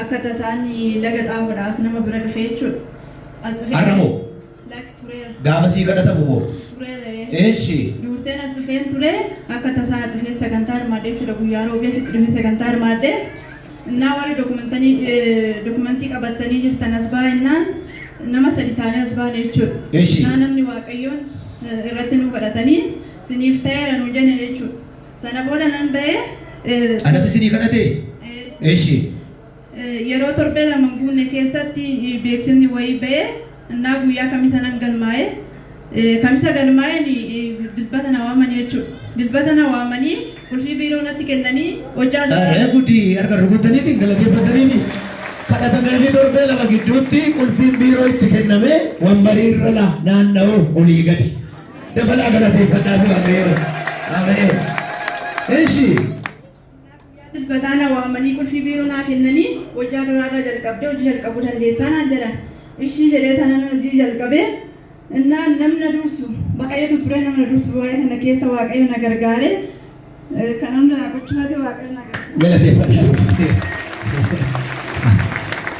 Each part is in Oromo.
Akka tasaa inni laga xaafoodhaa as nama bira dhufee jechuudha. As dhufee Har'a moo? Lakki tureera. Gaafa sii kadhatamu moo? Tureera ee. Eeshi. Duurseen as dhufeen ture akka tasaa dhufee sagantaa hirmaadhe jechuudha guyyaa roobii asitti dhufee sagantaa hirmaadhe. Innaa warri dokumentanii dokumentii qabattanii jirtan as baa innaan nama sadi taanee as baane jechuudha. Eeshi. Innaa namni waaqayyoon eh, irratti nu kadhatanii siniif ta'eera nu jene jechuudha. Sana booda nan ba'e. eh, Anatu isinii kadhate? eh, Eshi. eh, Yeroo torbee lama hin guunne keessatti eh, beeksifni wayii ba'e. Innaa guyyaa kamisa nan galmaa'e. Eh, Kamisa galmaa'een eh, dilbata na waamanii jechuudha. Dilbata na waamanii qulfii biiroo natti kennanii hojjaa Aree gudi harka rukutanii fi galateeffatanii fi kadhatamee fi torbee lama gidduutti qulfiin biiroo itti kenname wambarii irra la- naanna'u olii gadi. Dabalaa galateeffadhaa fi waaqayyoon. Ameen. Eshi. Dilbataa na waamanii qulfii biiroo naa kennanii hojjaa duraarraa jalqabdee hojii jalqabuu dandeessaa naan jedhan. Ishii jedhee tanan hojii jalqabe innaan namna dursu baqayyatu ture namna dursu waa'ee kana keessa waaqayyo na gargaare kan hunda na gochumaati waaqayyo na gargaare. Galateeffadhaa.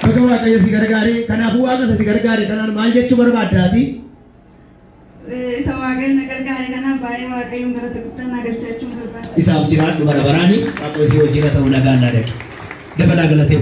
Baga waaqayyo si gargaare kanaafuu waaqa isa si gargaare kanaan maal jechuu barbaaddaati? Isa Waaqayyoon na gargaare kanaaf baay'ee Waaqayyoon galata guddaa naa galchachuun barbaada. Isaaf jiraadhu bara baraani. Waaqayyo si wajjin haa ta'u nagaan naa dhaqi. Dabalaa galateeffadhu.